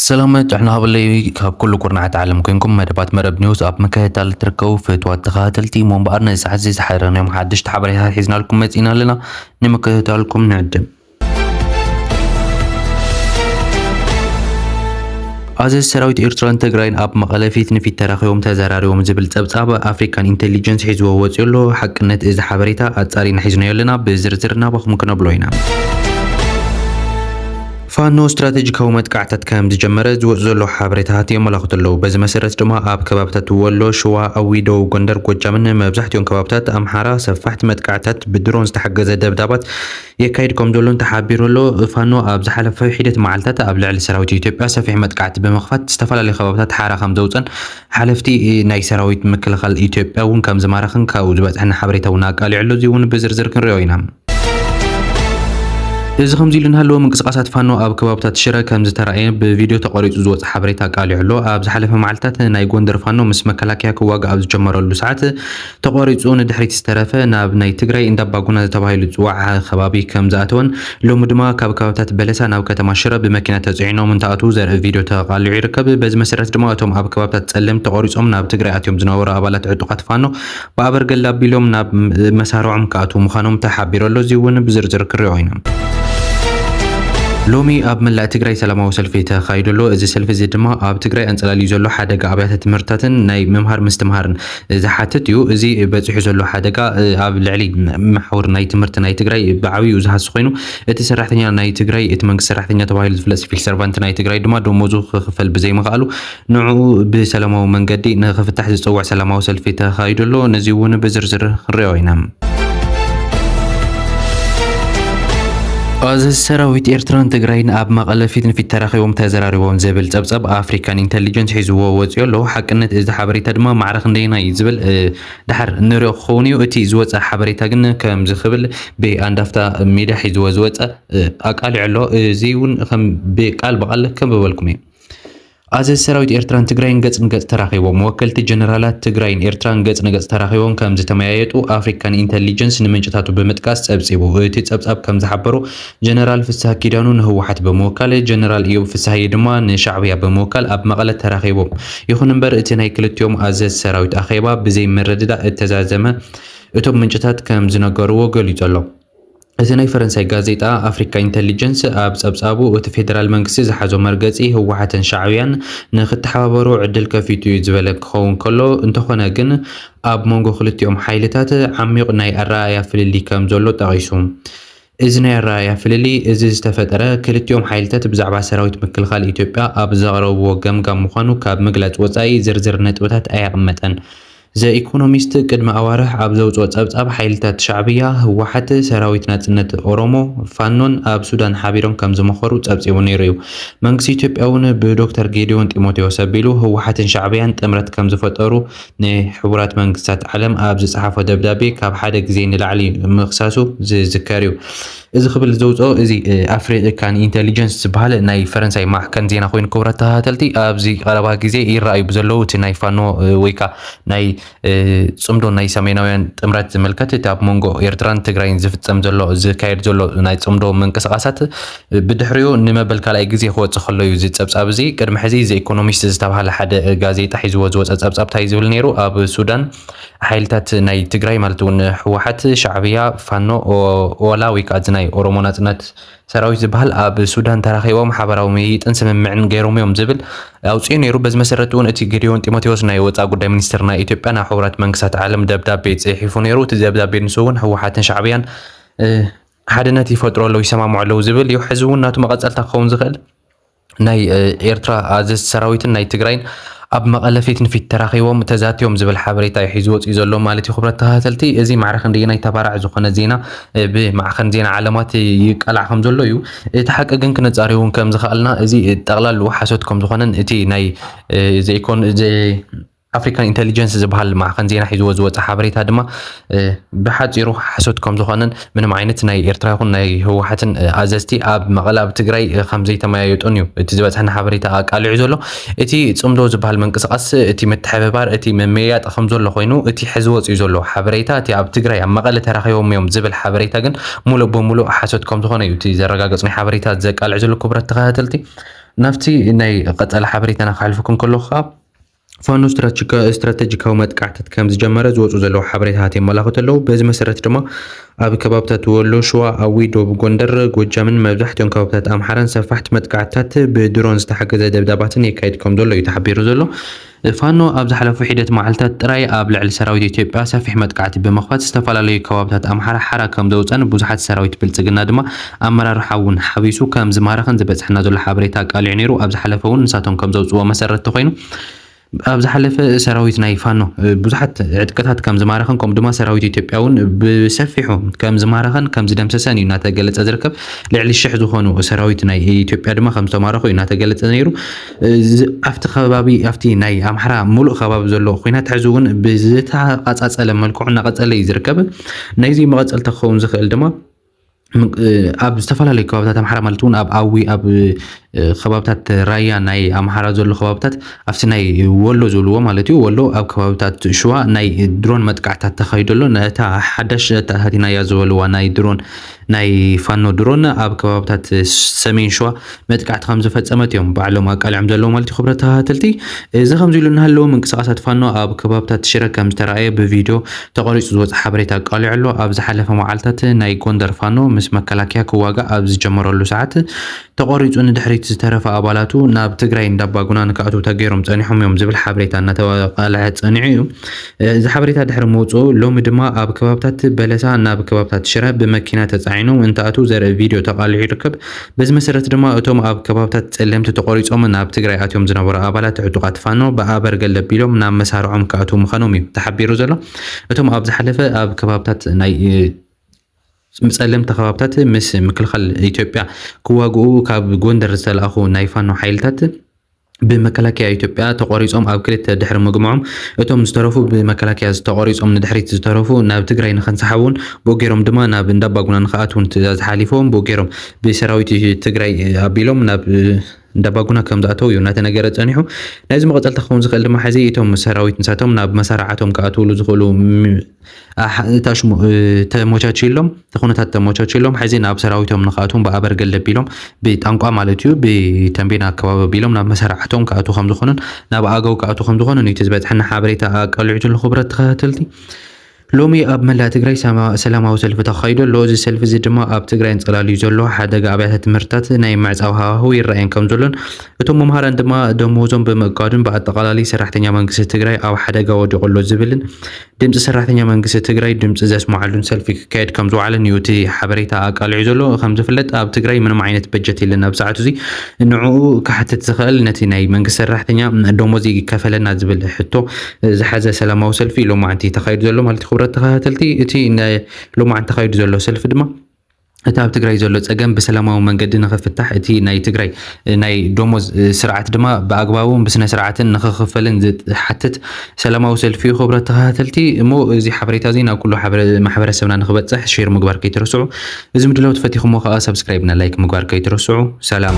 ሰላም ጥዕና ሃበለይ ካብ ኩሉ ኩርናዓት ዓለም ኮንኩም መደባት መረብ ኒውስ ኣብ ምክትታል እትርከቡ ፍትዋት ተኸታተልቲ እሞ እምበኣር ነዚ ሰዓት እዚ ዝሓረናዮም ሓደሽቲ ሓበሬታት ሒዝናልኩም መፂእና ኣለና ንምክትታልኩም ንዕድም ኣዘዚ ሰራዊት ኤርትራን ትግራይን ኣብ መቐለ ፊት ንፊት ተራኺቦም ተዘራሪቦም ዝብል ጸብጻብ ኣፍሪካን ኢንቴሊጀንስ ሒዝዎ ወፂኡ ኣሎ። ሓቅነት እዚ ሓበሬታ ኣጻሪና ሒዝናዮ ኣለና። ብዝርዝር ናባኹም ክነብሎ ኢና። ፋኖ ስትራቴጂካዊ መጥቃዕታት ከም ዝጀመረ ዝወፁ ዘሎ ሓበሬታታት የመላኽቱ ኣለዉ። በዚ መሰረት ድማ ኣብ ከባብታት ወሎ፣ ሽዋ፣ ኣዊ፣ ደቡብ ጎንደር፣ ጎጃምን መብዛሕትኦም ከባብታት ኣምሓራ ሰፋሕቲ መጥቃዕታት ብድሮን ዝተሓገዘ ደብዳባት የካይድ ከምዘሎን ተሓቢሩ ኣሎ። ፋኖ ኣብ ዝሓለፈ ሒደት መዓልታት ኣብ ልዕሊ ሰራዊት ኢትዮጵያ ሰፊሕ መጥቃዕቲ ብምኽፋት ዝተፈላለዩ ከባቢታት ሓራ ከምዘውፀን ሓለፍቲ ናይ ሰራዊት ምክልኻል ኢትዮጵያ እውን ከምዝማረኽን ካብኡ ዝበፅሐና ሓበሬታ እውን ኣቃሊዑ ኣሎ። እዚ እውን ብዝርዝር ክንሪኦ ኢና። እዚ ከምዚ ኢሉ እናሃለወ ምንቅስቓሳት ፋኖ ኣብ ከባቢታት ሽረ ከምዝተራእየ ብቪድዮ ተቐሪፁ ዝወፀ ሓበሬታ ኣቃሊዑ ኣሎ። ኣብ ዝሓለፈ መዓልታት ናይ ጎንደር ፋኖ ምስ መከላከያ ክዋጋእ ኣብ ዝጀመረሉ ሰዓት ተቋሪፁ ንድሕሪት ዝተረፈ ናብ ናይ ትግራይ እንዳባጉና ተባሂሉ ዝፅዋዕ ከባቢ ከም ዝኣተወን ሎሚ ድማ ካብ ከባብታት በለሳ ናብ ከተማ ሽረ ብመኪና ተፅዒኖም እንትኣትዉ ዘርኢ ቪድዮ ተቓሊዑ ይርከብ። በዚ መሰረት ድማ እቶም ኣብ ከባብታት ፀለምት ተቖሪፆም ናብ ትግራይ ኣትዮም ዝነበሩ ኣባላት ዕጡቓት ፋኖ ብኣበርገለ ኣቢሎም ናብ መሳርዖም ክኣትዉ ምዃኖም ተሓቢሩ ኣሎ። እዚ እውን ብዝርዝር ክንሪኦ ኢና። ሎሚ ኣብ መላእ ትግራይ ሰላማዊ ሰልፊ ተኻይዱ ኣሎ። እዚ ሰልፊ እዚ ድማ ኣብ ትግራይ ኣንፀላልዩ ዘሎ ሓደጋ ኣብያተ ትምህርትታትን ናይ ምምሃር ምስትምሃርን ዝሓትት እዩ። እዚ በፂሑ ዘሎ ሓደጋ ኣብ ልዕሊ መሓውር ናይ ትምህርቲ ናይ ትግራይ ብዓብይኡ ዝሃሲ ኮይኑ እቲ ሰራሕተኛ ናይ ትግራይ እቲ መንግስቲ ሰራሕተኛ ተባሂሉ ዝፍለጥ ሲቪል ሰርቫንት ናይ ትግራይ ድማ ደሞዙ ክኽፈል ብዘይምኽኣሉ ንዕኡ ብሰላማዊ መንገዲ ንክፍታሕ ዝፀውዕ ሰላማዊ ሰልፊ ተኻይዱ ኣሎ። ነዚ እውን ብዝርዝር ክንሪኦ ኢና። ኣዘዚ ሰራዊት ኤርትራን ትግራይን ኣብ መቐለ ፊት ንፊት ተራኺቦም ተዘራሪቦም ዝብል ጸብጻብ ኣፍሪካን ኢንተሊጀንስ ሒዝዎ ወፂኦ ኣሎ። ሓቅነት እዚ ሓበሬታ ድማ ማዕረ ክንደየና እዩ ዝብል ድሓር ንሪኦ ክኸውን እዩ። እቲ ዝወፀ ሓበሬታ ግን ከምዚ ክብል ብኣንዳፍታ ሜድያ ሒዝዎ ዝወፀ ኣቃሊዑ ኣሎ። እዚ እውን ከም ብቃል ብቃል ከንብበልኩም እዩ። ኣዘዚ ሰራዊት ኤርትራን ትግራይን ገጽ ንገጽ ተራኺቦም። ወከልቲ ጀነራላት ትግራይን ኤርትራን ገጽ ንገጽ ተራኺቦም ከም ዝተመያየጡ ኣፍሪካን ኢንተሊጀንስ ንምንጭታቱ ብምጥቃስ ጸብጺቡ። እቲ ጸብጻብ ከም ዝሓበሮ፣ ጀነራል ፍስሃ ኪዳኑ ንህወሓት ብምውካል፣ ጀነራል እዮብ ፍስሃየ ድማ ንሻዕብያ ብምውካል ኣብ መቐለ ተራኺቦም። ይኹን'ምበር እቲ ናይ ክልቲኦም ኣዘዝቲ ሰራዊት ኣኼባ ብዘይምርድዳእ እተዛዘመ እቶም ምንጭታት ከም ዝነገርዎ ገሊጹ ኣሎ። እቲ ናይ ፈረንሳይ ጋዜጣ ኣፍሪካ ኢንተሊጀንስ ኣብ ፀብፃቡ እቲ ፌደራል መንግስቲ ዝሓዞ መርገፂ ህወሓትን ሻዕብያን ንክተሓባበሩ ዕድል ከፊቱ እዩ ዝበለ እንትኸውን ከሎ እንተኾነ ግን ኣብ መንጎ ክልቲኦም ሓይልታት ዓሚዩቕ ናይ ኣረኣእያ ፍልልይ ከምዘሎ ጠቒሱ። እዚ ናይ ኣረኣእያ ፍልልይ እዚ ዝተፈጠረ ክልቲኦም ሓይልታት ብዛዕባ ሰራዊት ምክልኻል ኢትዮጵያ ኣብ ዘቕረብዎ ገምጋም ምዃኑ ካብ ምግላፅ ወፃኢ ዝርዝር ነጥብታት ኣየቕመጠን። ዘ ኢኮኖሚስት ቅድሚ ኣዋርሕ ኣብ ዘውጽኦ ጸብጻብ፣ ሓይልታት ሻዕብያ፣ ህወሓት፣ ሰራዊት ናጽነት ኦሮሞ፣ ፋኖን ኣብ ሱዳን ሓቢሮም ከም ዝመኸሩ ጸብጺቡ ነይሩ እዩ። መንግስቲ ኢትዮጵያ'ውን ብዶክተር ጌዲዮን ጢሞቴዎስ ኣቢሉ ህወሓትን ሻዕብያን ጥምረት ከም ዝፈጠሩ ንሕቡራት መንግስታት ዓለም ኣብ ዝጸሓፎ ደብዳቤ ካብ ሓደ ግዜ ንላዕሊ ምኽሳሱ ዝዝከር እዩ። እዚ ክብል ዘውጽኦ እዚ ኣፍሪቂ ካን ኢንተሊጀንስ ዝበሃል ናይ ፈረንሳይ ማዕከን ዜና ኮይኑ ክብረት ተኸታተልቲ ኣብዚ ቀረባ ግዜ ይረኣዩ ብዘለዉ እቲ ናይ ፋኖ ወይ ከዓ ናይ ጽምዶ ናይ ሰሜናውያን ጥምረት ዝምልከት እቲ ኣብ መንጎ ኤርትራን ትግራይን ዝፍጸም ዘሎ ዝካየድ ዘሎ ናይ ጽምዶ ምንቅስቃሳት ብድሕሪኡ ንመበል ካልኣይ ግዜ ክወጽእ ከሎ እዩ እዚ ጸብጻብ እዚ ቅድሚ ሕዚ ዘኢኮኖሚስት ዝተባሃለ ሓደ ጋዜጣ ሒዝዎ ዝወጸ ጸብጻብ እንታይ ዝብል ነይሩ ኣብ ሱዳን ሓይልታት ናይ ትግራይ ማለት እውን ህወሓት፣ ሻዕብያ፣ ፋኖ፣ ኦላ ወይ ከዓ እዚ ናይ ኦሮሞ ናፅነት ሰራዊት ዝበሃል ኣብ ሱዳን ተራኺቦም ሓበራዊ ምይይጥን ስምምዕን ገይሮም እዮም ዝብል ኣውፅኡ ነይሩ። በዚ መሰረት እውን እቲ ጌዲዮን ጢሞቴዎስ ናይ ወፃኢ ጉዳይ ሚኒስትር ናይ ኢትዮጵያ ናብ ሕቡራት መንግስታት ዓለም ደብዳቤ ፅሒፉ ነይሩ። እቲ ደብዳቤ ንሱ እውን ህወሓትን ሻዕብያን ሓድነት ይፈጥሩ ኣለዉ፣ ይሰማምዑ ኣለዉ ዝብል እዩ። ሕዚ እውን ናቱ መቐፀልታ ክኸውን ዝኽእል ናይ ኤርትራ ኣዘዝቲ ሰራዊትን ናይ ትግራይን ኣብ መቐለ ፊት ንፊት ተራኺቦም ተዛትዮም ዝብል ሓበሬታ እዩ ሒዙ ወፂኡ ዘሎ ማለት እዩ። ክብረት ተኸታተልቲ እዚ ማዕረ ክንደየናይ ተባራዕ ዝኾነ ዜና ብማዕኸን ዜና ዓለማት ይቀላዕ ከም ዘሎ እዩ። እቲ ሓቂ ግን ክነፃሪ እውን ከም ዝኸኣልና እዚ ጠቕላሉ ሓሶት ከም ዝኾነን እቲ ናይ ዘይኮን ኣፍሪካን ኢንተሊጀንስ ዝበሃል ማዕኸን ዜና ሒዝዎ ዝወፀ ሓበሬታ ድማ ብሓፂሩ ሓሶት ከም ዝኾነን ምንም ዓይነት ናይ ኤርትራ ይኹን ናይ ህወሓትን ኣዘዝቲ ኣብ መቐለ ኣብ ትግራይ ከም ዘይተመያየጡን እዩ እቲ ዝበፅሐና ሓበሬታ ኣቃሊዑ ዘሎ እቲ ፅምዶ ዝበሃል ምንቅስቓስ እቲ ምትሕብባር እቲ ምምያያጥ ከም ዘሎ ኮይኑ እቲ ሕዚ ወፂኡ ዘሎ ሓበሬታ እቲ ኣብ ትግራይ ኣብ መቐለ ተራኺቦም እዮም ዝብል ሓበሬታ ግን ሙሉእ ብሙሉእ ሓሶት ከም ዝኾነ እዩ እቲ ዘረጋገፅ ናይ ሓበሬታ ዘቃልዕ ዘሎ ክቡራት ተኸታተልቲ ናብቲ ናይ ቀፀላ ሓበሬታና ክሓልፈኩም ከለኹ ከዓ ፋኖ ስትራተጂካዊ መጥቃዕትት ከም ዝጀመረ ዝወፁ ዘለዉ ሓበሬታታት የመላኽቱ ኣለዉ። በዚ መሰረት ድማ ኣብ ከባብታት ወሎ፣ ሽዋ፣ ኣዊ፣ ዶብ ጎንደር፣ ጎጃምን መብዛሕትኦም ከባብታት ኣምሓራን ሰፋሕቲ መጥቃዕትታት ብድሮን ዝተሓገዘ ደብዳባትን የካይድ ከም ዘሎ እዩ ተሓቢሩ ዘሎ። ፋኖ ኣብ ዝሓለፉ ሒደት መዓልታት ጥራይ ኣብ ልዕሊ ሰራዊት ኢትዮጵያ ሰፊሕ መጥቃዕቲ ብምኽፋት ዝተፈላለዩ ከባብታት ኣምሓራ ሓራ ከም ዘውፀን ብዙሓት ሰራዊት ብልፅግና ድማ ኣመራርሓ'ውን ሓዊሱ ከም ዝማረኸን ዝበጽሐና ዘሎ ሓበሬታ ኣቃሊዑ ነይሩ። ኣብ ዝሓለፈ'ውን ንሳቶም ከም ዘውጽእዎ መሰረት ተኾይኑ ኣብ ዝሓለፈ ሰራዊት ናይ ፋኖ ብዙሓት ዕጥቅታት ከም ዝማረኸን ከምኡ ድማ ሰራዊት ኢትዮጵያ'ውን ብሰፊሑ ከም ዝማረኸን ከም ዝደምሰሰን እዩ እናተገለጸ ዝርከብ። ልዕሊ ሽሕ ዝኾኑ ሰራዊት ናይ ኢትዮጵያ ድማ ከም ዝተማረኹ እዩ እናተገለጸ ነይሩ። እዚ ኣብቲ ከባቢ ኣብቲ ናይ ኣምሓራ ሙሉእ ከባቢ ዘሎ ኹናት ሕዚ እውን ብዝተቓጻጸለ መልክዑ እናቐጸለ እዩ ዝርከብ። ናይዚ መቐጸልታ ክኸውን ዝኽእል ድማ ኣብ ዝተፈላለዩ ከባብታት ኣምሓራ ማለት እውን ኣብ ኣዊ ኣብ ከባብታት ራያ ናይ ኣምሓራ ዘሎ ከባብታት ኣብቲ ናይ ወሎ ዝብልዎ ማለት እዩ ወሎ ኣብ ከባብታት ሽዋ ናይ ድሮን መጥቃዕታት ተኻይዶ ኣሎ ነታ ሓዳሽ ተታሃቲናያ ዝበልዋ ናይ ድሮን ናይ ፋኖ ድሮን ኣብ ከባብታት ሰሜን ሽዋ መጥቃዕቲ ከም ዝፈጸመት እዮም ባዕሎም ኣቃሊዖም ዘለዉ ማለት እዩ ክብረት ተኸታተልቲ። እዚ ከምዚ ኢሉ እናሃለወ ምንቅስቓሳት ፋኖ ኣብ ከባብታት ሽረ ከም ዝተራእየ ብቪድዮ ተቐሪጹ ዝወጸ ሓበሬታ ኣቃሊዑ ኣሎ። ኣብ ዝሓለፈ መዓልታት ናይ ጎንደር ፋኖ ምስ መከላከያ ክዋጋእ ኣብ ዝጀመረሉ ሰዓት ተቖሪጹ ንድሕሪት ዝተረፈ ኣባላቱ ናብ ትግራይ እንዳባጉና ንክኣትዉ ተገይሮም ጸኒሖም እዮም ዝብል ሓበሬታ እናተቃለሐ ጸኒዑ እዩ። እዚ ሓበሬታ ድሕሪ ምውጽኡ ሎሚ ድማ ኣብ ከባብታት በለሳ ናብ ከባብታት ሽረ ብመኪና ተጻዒኖም እንትኣትዉ ዘርኢ ቪድዮ ተቃሊሑ ይርከብ። በዚ መሰረት ድማ እቶም ኣብ ከባብታት ፀለምቲ ተቖሪፆም ናብ ትግራይ ኣትዮም ዝነበሩ ኣባላት ዕጡቓት ፋኖ ብኣበርገለ ኣቢሎም ናብ መሳርዖም ክኣትዉ ምዃኖም እዩ ተሓቢሩ ዘሎ። እቶም ኣብ ዝሓለፈ ኣብ ከባብታት ናይ ፀለምቲ ከባብታት ምስ ምክልኻል ኢትዮጵያ ክዋግኡ ካብ ጎንደር ዝተላእኹ ናይ ፋኖ ሓይልታት ብመከላከያ ኢትዮጵያ ተቖሪፆም ኣብ ክልተ ድሕሪ ምግምዖም እቶም ዝተረፉ ብመከላከያ ዝተቖሪፆም ንድሕሪት ዝተረፉ ናብ ትግራይ ንክንሰሓቡን ብኡ ገይሮም ድማ ናብ እንዳባጉና ንክኣትዉን ትእዛዝ ሓሊፎም ብኡ ገይሮም ብሰራዊት ትግራይ ኣቢሎም ናብ እንዳባጉና ከም ዝኣተዉ እዩ እናተነገረ ፀኒሑ ናይዚ መቐፀልታ ክኸውን ዝኽእል ድማ ሕዚ እቶም ሰራዊት ንሳቶም ናብ መሳርዓቶም ክኣትውሉ ዝኽእሉ ታሽሙ ተሞቻችሎም እቲ ኩነታት ተሞቻችሎም ሕዚ ናብ ሰራዊቶም ንክኣትዎም ብኣበርገል ደቢሎም ብጣንቋ ማለት እዩ ብተንቤን ኣከባቢ ኣቢሎም ናብ መሰራዕቶም ክኣትዉ ከም ዝኾኑን ናብ ኣገው ክኣትዉ ከም ዝኾኑን እዩ እቲ ዝበፅሐና ሓበሬታ ኣቃሊዑ ዘሎ ክቡራት ተኸታተልቲ ሎሚ ኣብ መላእ ትግራይ ሰማ- ሰላማዊ ሰልፊ ተኻይዱ ኣሎ እዚ ሰልፊ እዚ ድማ ኣብ ትግራይ እንፀላልዩ ዘሎ ሓደጋ ኣብያተ ትምህርትታት ናይ ምዕፃው ሃዋህው ይረኣየን ከም ዘሎን እቶም መምሃራን ድማ ደመወዞም ብምእጋዱን ብኣጠቓላሊ ሰራሕተኛ መንግስቲ ትግራይ ኣብ ሓደጋ ወዲቑ ኣሎ ዝብልን ድምፂ ሰራሕተኛ መንግስቲ ትግራይ ድምፂ ዘስምዓሉን ሰልፊ ክካየድ ከም ዝወዓለን እዩ እቲ ሓበሬታ ኣቃሊዑ ዘሎ። ከም ዝፍለጥ ኣብ ትግራይ ምንም ዓይነት በጀት የለን ኣብ ሰዓቱ እዚ ንዕኡ ክሓትት ዝኽእል ነቲ ናይ መንግስቲ ሰራሕተኛ ደሞዝ ይከፈለና ዝብል ሕቶ ዝሓዘ ሰላማዊ ሰልፊ ሎማዕንቲ ተኻይዱ ዘሎ ማለት ክብረት ተኸታተልቲ እቲ ሎማዕንቲ ተኻይዱ ዘሎ ሰልፊ ድማ እቲ ኣብ ትግራይ ዘሎ ፀገም ብሰላማዊ መንገዲ ንክፍታሕ እቲ ናይ ትግራይ ናይ ደሞዝ ስርዓት ድማ ብኣግባቡን ብስነ ስርዓትን ንክኽፈልን ዝሓትት ሰላማዊ ሰልፊ እዩ። ክቡራት ተኸታተልቲ እሞ እዚ ሓበሬታ እዚ ናብ ኩሉ ማሕበረሰብና ንክበፅሕ ሼር ምግባር ከይትረስዑ፣ እዚ ምድላው ተፈቲኹሞ ከዓ ሰብስክራይብ እና ላይክ ምግባር ከይትረስዑ። ሰላም